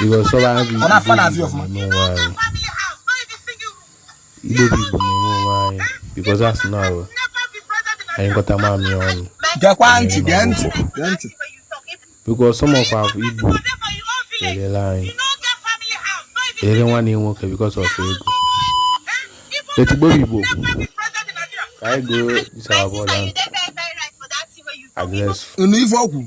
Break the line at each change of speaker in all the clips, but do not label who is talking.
because ọba bụ Ọ na-afa n'azụ ya ọfụma. igbo
na-enwe onwe
anyị idobe igbo na-enwe onwe anyị because a sị na anyị nyụkọta mamịrị ọnụ Gekwa ntị, gee ntị, gee ntị. because some of our igbo erela anyị erere nwanne ya nwoke because of ego let igbo bụ igbo ka anyị goo disababọla address Unu ife ọgwụ.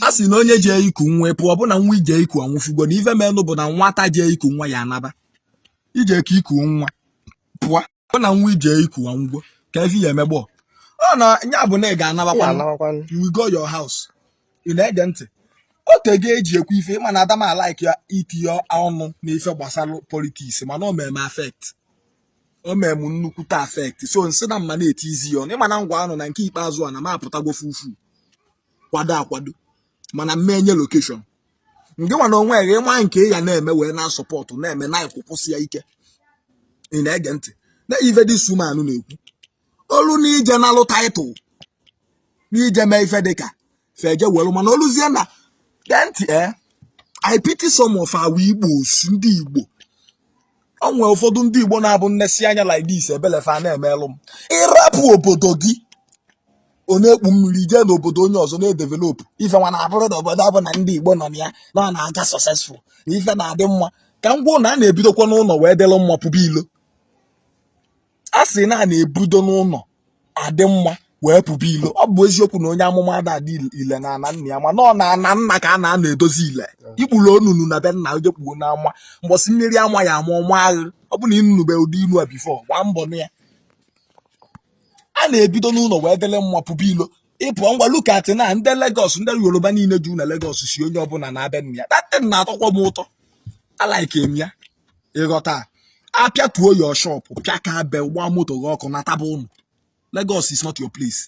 a sị na onye jee iku nwa pụọ ọ bụ na nwa ije iku anwụfugo na ife menụ bụ na nwata jee iku nwa ya anaba ije ka iku nwa pụọ ọ na nwa ije iku anwụgo ka ife ya emegbo ọ na ya bụ na ị ga-anabakwa anabakwanụ you will go your house ị na-ege ntị o tego eji ekwu ife mana ada m alike ya itinye ọnụ n'ife gbasara politics mana o mere m affect o mere m nnukwute affect so m sị na m ma na-etiizi ya ọnụ mana m gwa ụnụ na nke ikpeazụ a na m apụtago full full kwado akwado mana mmenye location ngị nwa na onwe gị ị ma nke ị ya na-eme wee na-asupport na-eme na ị kwụkwụsịa ike ị na-ege ntị na ive this woman na-ekwu o lu na ije nalụ title n'ije mee ife dịka fa eje welu mana o luzie na gee ntị e eh, I pity some of our Igbos ndị Igbo o nwere ụfọdụ ndị Igbo na-abụ m nesie anya like this ebele fa na-emelụ m ị rapụ obodo gị ọ na-ekpu mmiri jee n'obodo onye ọzọ na-edevelopụ ife nwa na-abụrụ na obodo ọ bụla ndị Igbo nọ na ya na ọ na-aga successful na ife na-adị mma ka m gwa unu a na-ebidokwa n'ụlọ wee dịrị mma pụba ilo a sị na a na-ebido n'ụlọ adị mma wee pụba ilo ọ bụ eziokwu na onye amụma ada adị ile na ana nna ya mana ọ na ana nna ka a na-anọ edozi ile i kpurọ ụnọ na be nna o je kpuo n'ama mbọsị mmiri ama ya ama ọ maa ghụ ọ bụ na ị nụnube ụdị ilu a before gbaa mbọ nụ ya a na-ebido n'ụlọ wee dịlị mma pụba ilo ịpụ ngwa look at na ndị Lagos ndị Yoruba niile ju na Lagos sị onye ọbụla naba ana nna ya that thing na-atọkwa m ụtọ alike m ya ị ghọta a pịatuo your shop pịakabe gba moto gị ọkụ nataba ụnọ Lagos is not your place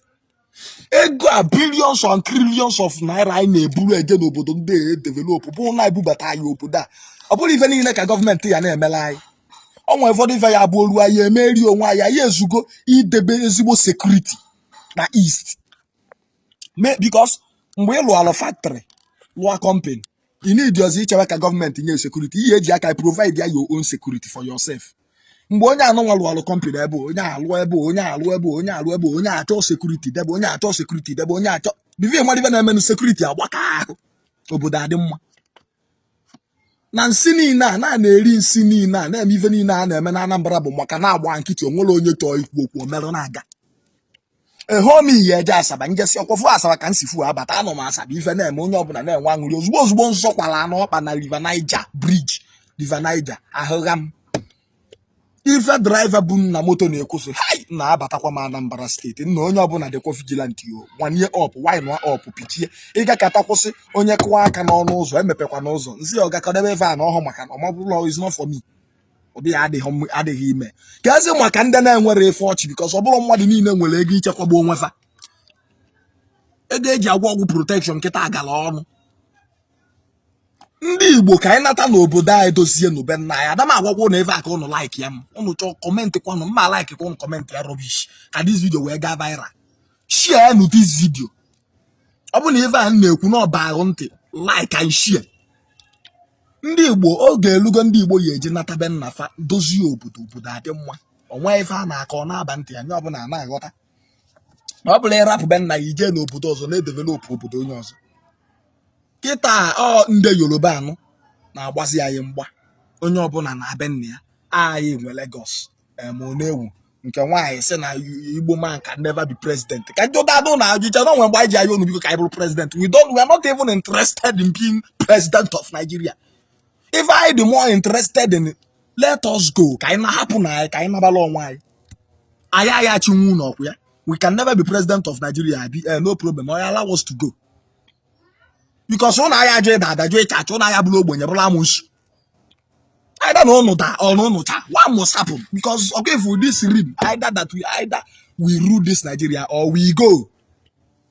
ego a billions and trillions of naira anyị na-eburu eje n'obodo ndị edevelop bụ na e bubata ya n'obodo a ọ bụrọ ife niile ka gọọmenti ya na-emela anyị o nwe ụfọdụ ife ya-abụ o lu anyị emeri onwe anyị anyị ezugo idebe ezigbo sekuriti na east because mgbe ị lụọla factory lụọ company ị needirọzi ichewe ka gọọmenti nye sekuriti i ye eji aka provide ya your own security for yourself mgbe onye anụnwa lụọlụ kọmpani ebe a, onye alụọ ebe a, onye alụọ ebe a, onye alụọ ebe a, onye achọ sekuriti debe onye achọ sekuriti debe onye achọ before ị madụ ive na-emenụ sekuriti agbaka ahụ obodo adị mma na nsị niile a na-eri nsị niile a na-eme ife niile a na-eme na Anambra bụ maka na a gba nkịtị o nwerọ onye chọọ ikwu okwu o merụ na-aga ehomi ihe eje asaba njesi ọkwọfụ asaba ka nsi fu abata anọ m asaba ife na-eme onye ọbụla na-enwe aṅụrị ozugbo ozugbo nsọ kwara anụ ọkpa na River Niger bridge River Niger ahụgha m ife driver bu m na moto na-ekwu sị hai na abatakwa m anambra steeti nna onye ọbụla dịkwa vigilant yo wind up wind up pichie ị gakata kwụsị onye kụwa aka n'ọnụ ụzọ emepekwana ụzọ nsị ọga kadebe ife a na ọhụ maka na ọmabụlọ is not for me ụdị ya adịghị emekazi maka ndị na-enwere efe ọchị because ọ bụrọ mmadụ niile nwere ego ichekwaba onwe fa ego eji agwọ ọgwụ protection kịta agala ọnụ ndị igbo ka anyị nata n'obodo anyị dozie nụ be nna anyị ada m agwagwa ụnụ ebe a ka ụnụ like ya ma ụnụ chọọ comment kwanụ ma like ka ụnụ comment ya rubbish ka this video wee gaa viral share nụ this video ọ bụ na ife a na-ekwu na ọ baa gị ntị like and share ndị igbo oge elugo ndị igbo ya eji nata be nna fa dozie obodo obodo adị mma o nwe ife a na-akọ ọ na-aba ntị ya onye ọbụla a na-aghọta na ọ bụrọ ịrapụ be nna ya ijee n'obodo ọzọ na-edevelopụ obodo onye ọzọ kịta ọ ndị yoruba nọ na-agbazi anyị mgba onye ọbụla naa be nna ya anyị nwe Lagos em na-ewu nke nwaanyị sị na igbo man can never be president ka ndị ụda adụ na ajụcha na o nwe mgbe anyị ji ayọ unu biko ka anyị bụrụ president we don't we are not even interested in being president of Nigeria ife anyị dị more interested in let us go ka anyị naa hapụnụ anyị ka anyị nabala onwe anyị anyị anyị achinwu unu ọkwa ya we can never be president of Nigeria abi eh, no problem oya allow us to go because unu aya ajụ ịda ada jụ ịcha acha unu aya bụrụ ogbenye bụrụ amusu either na ụnụ daa or na ụnụ chaa one must happen because ọkụ efu ụdị siri m either that we either we rule this Nigeria or we go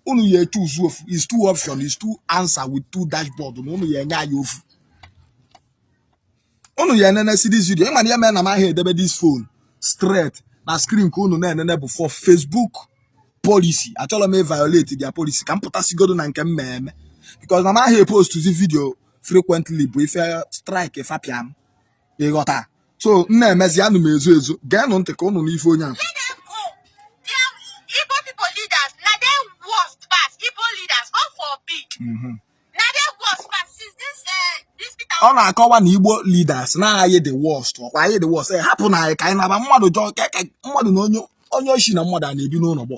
unu ya choose ofu is two option is two answer with two dashboard na unu ya enye anyị ofu unu ya enenesi this video ị ma na ihe mere na m aha edebe this phone straight na screen ka unu na-enene bụ for Facebook policy achọrọ m violate their policy ka m pụtasigodo na nke m ma eme because na m aha postzi video frequently bụ ife strike fa pịa m ịghọta so m na-emezi anụ m ezu ezu geenụ ntị ka ụnụ nụ ife onye ahụ
Mm-hmm. ọ na-akọwa
na igbo leaders na anyị dị worst ọkwa anyị dị worst hapụnụ anyị ka anyị naba mmadụ jọọ mmadụ na onye oshi na mmadụ ana ebi n'ụlọ gbọ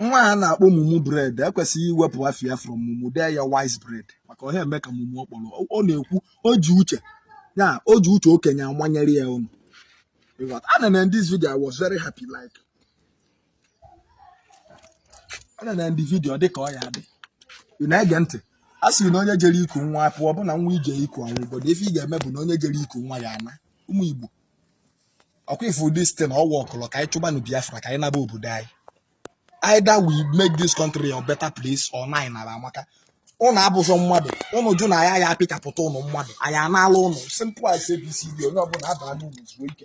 nwa a na-akpọ
mumu bread e kwesịrị iwepụ afa ya from mumu dee ya wise bread maka ọ ha eme ka mumu ọ kpọrọ Ọ- ọ na-ekwu o ji uche ya o ji uche okenye amanyere ya ụnụ ịghọta ana na this video i was very happy like ana na ndị video dị ka ọ ya dị ị na-ege ntị a sị na onye jere iku nwa pụọ bụ na nwa i je iku anwụ obodo ife ị ga-eme bụ na onye jere iku nwa ya ana ụmụ igbo ọkwa ị fụ this thing ọwa ọkụlọ ka anyị chụbanụ biafra ka anyị naba obodo anyị either we make this country a better place or na anyị naba maka ụnụ abụzọ mmadụ ụnụ jụ na anyị ya apịchapụta ụnụ mmadụ anyị anaala ụnụ simple as abcd onye ọbụna abaa n'ụnọ zuo ike